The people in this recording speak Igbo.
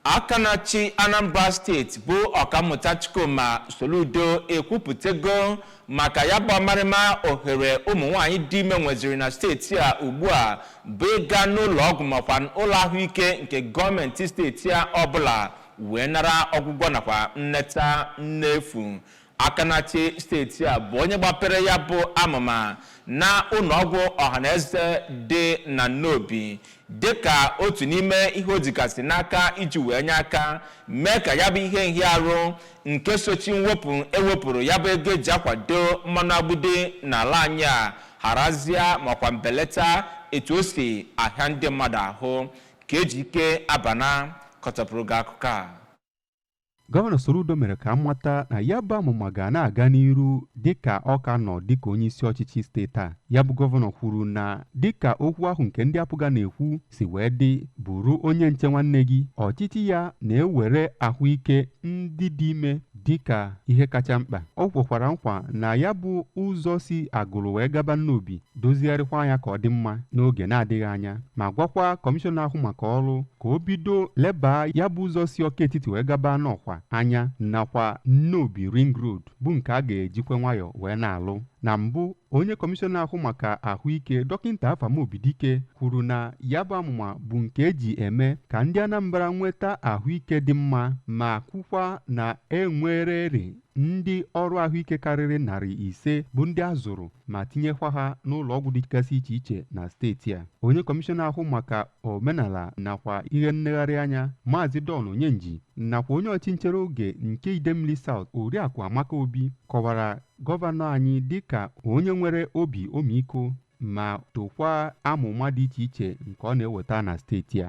Aka na-achị Anambra steeti bụ Ọkammụta Chukwuma Soludo ekwupụtago maka ya bụ ọmarịma ohere ụmụ nwaanyị dị ime nweziri na steeti a ugbu a bụ ịga n'ụlọ ọgwụ makwa ụlọ ahụike nke gọọmenti steeti a ọbụla wee nara ọgwụgwọ nakwa nneta n'efu. Aka na-achị steeti a bụ onye gbapere ya bụ amụma na ụlọọgwụ ọhaneze dị na Nnobi dịka otu n'ime ihe o jigasị n'aka iji wee nye aka mee ka ya bụ ihe nhịa arụ nke sochi mwepụ e wepụrụ ya bụ ego e ji akwado mmanụ agbidi n'ala anyị a harazịa makwa mbelata etu o si ahịa ndị mmadụ ahụ ka Ejike Abana kọtapụrụ gị akụkọ a Gọvanọ Soludo mere ka a mata na ya bụ amụma ga na-aga n'iru dịka ọ ka nọ dịka onye isi ọchịchị steeti a. Ya bụ gọvanọ kwuru na dịka okwu ahụ nke ndị APGA na-ekwu si wee dị bụrụ onye nche nwanne gị, ọchịchị ya na-ewere ahụike ndị dị ime dịka ihe kacha mkpa. Ọ kwekwara nkwa na ya bụ ụzọ si Agụlụ wee gaba Nnobi dozigharịkwaa ya ka ọ dị mma n'oge na-adịghị anya ma gwakwa kọmishọna ahụ maka ọrụ ka o bido lebaa ya bụ ụzọ si Ọka Etiti wee gaba Nnọkwa anya nakwa Nnobi Ring Road bụ nke a ga-ejikwa nwayọọ wee na-alụ na mbụ onye kọmishọna ahụ maka ahụike dọkịta Afam Obidike kwuru na ya bụ amụma bụ nke e ji eme ka ndị Anambra nweta ahụike dị mma ma kwukwa na e nwererị ndị ọrụ ahụike karịrị narị ise bụ ndị a zụrụ ma tinyekwa ha n'ụlọ ọgwụ dịgasị iche iche na steeti a onye kọmishọna ahụ maka omenala nakwa ihe nnegharị anya maazị Don Onyenji nakwa onye ọchị nchere oge nke Idemili South Oriakụ Amaka Obi kọwara gọvanọ anyị dịka onye nwere obi ọmịiko ma tokwa amụma dị iche iche nke ọ na-eweta na steeti a